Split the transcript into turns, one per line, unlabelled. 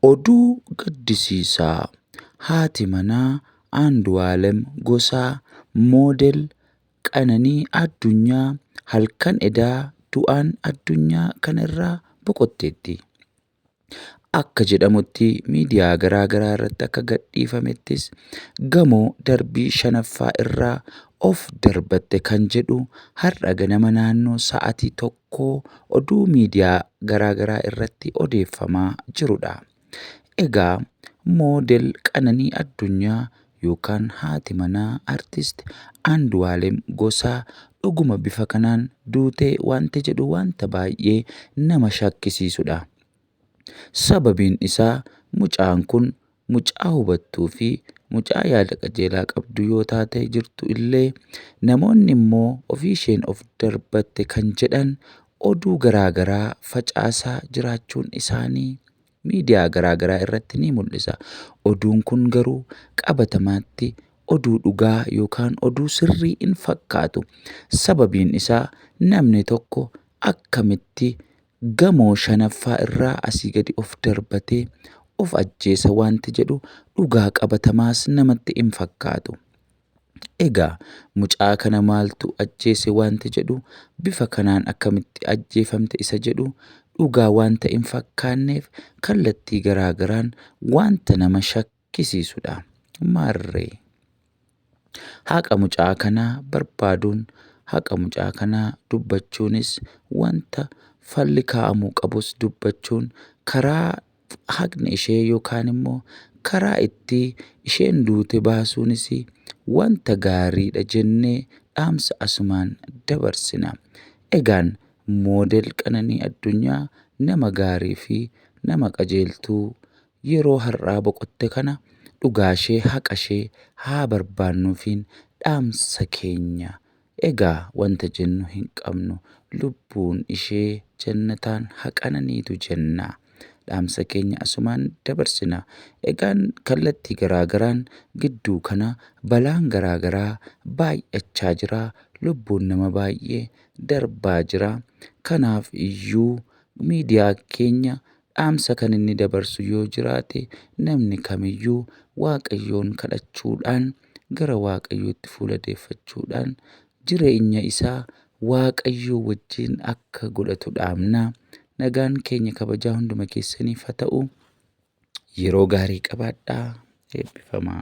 Oduu gaddisiisaa haati manaa Andu'aalem Gosaa moodel Qananii Addunyaa halkan edaa du'aan addunyaa kanarraa boqotteetti. Akka jedhamutti miidiyaa garaa garaa irratti akka gadhiifamettis gamoo darbii shanaffaa irraa of darbatte kan jedhu har'a ganama naannoo sa'atii rakkoo oduu miidiyaa garaa garaa irratti odeeffamaa jirudha. Egaa moodel Qananii Addunyaa yookaan haati manaa artist Andu'aalem Gosaa dhuguma bifa kanaan duutee wanti jedhu wanta baay'ee nama shakkisiisudha. Sababiin isaa mucaan kun mucaa hubattuu fi mucaa yaada qajeelaa qabdu yoo taatee jirtu illee namoonni immoo ofii isheen of darbatte kan jedhan oduu garaa garaa facaasaa jiraachuun isaanii miidiyaa garaa garaa irratti ni mul'isa. Oduun kun garuu qabatamaatti oduu dhugaa yookaan oduu sirrii hin fakkaatu. Sababiin isaa namni tokko akkamitti gamoo shanaffaa irraa asii gadi of darbatee of ajjeesa wanti jedhu dhugaa qabatamaas namatti hin fakkaatu. Egaa mucaa kana maaltu ajjeese wanti jedhu bifa kanaan akkamitti ajjeefamte isa jedhu dhugaa wanta hin fakkaanneef kallattii garaagaraan wanta nama argisiisudha. Maarree. Haqa mucaa kanaa barbaaduun haqa mucaa kanaa dubbachuunis wanta falli kaa'amuu qabus dubbachuun karaa haqni ishee yookaan immoo karaa itti isheen duute baasuunis wanta gaariidha jennee dhaamsa asumaan dabarsina. Egaan moodel qananii addunyaa nama gaarii fi nama qajeeltuu Yeroo har'aa boqotte kana dhugaashee haqashee haa barbaannuufiin dhaamsa keenya. Egaa wanta jennu hin qabnu. Lubbuun ishee jannataan ha qananiitu jenna. Dhaamsa keenya asumaan dabarsina. Egaan kallattii garaa garaan gidduu kana balaan garaa garaa baay'achaa jira. Lubbuun nama baay'ee darbaa jira. Kanaaf iyyuu miidiyaa keenya Dhaamsa kan inni dabarsu yoo jiraate namni kamiyyuu Waaqayyoon kadhachuudhaan gara Waaqayyootti fuula deeffachuudhaan jireenya isaa Waaqayyoo wajjin akka godhatu dhaamna. Nagaan keenya kabajaa hunduma keessaniif ha ta'u yeroo gaarii qabaadhaa eebbifamaa.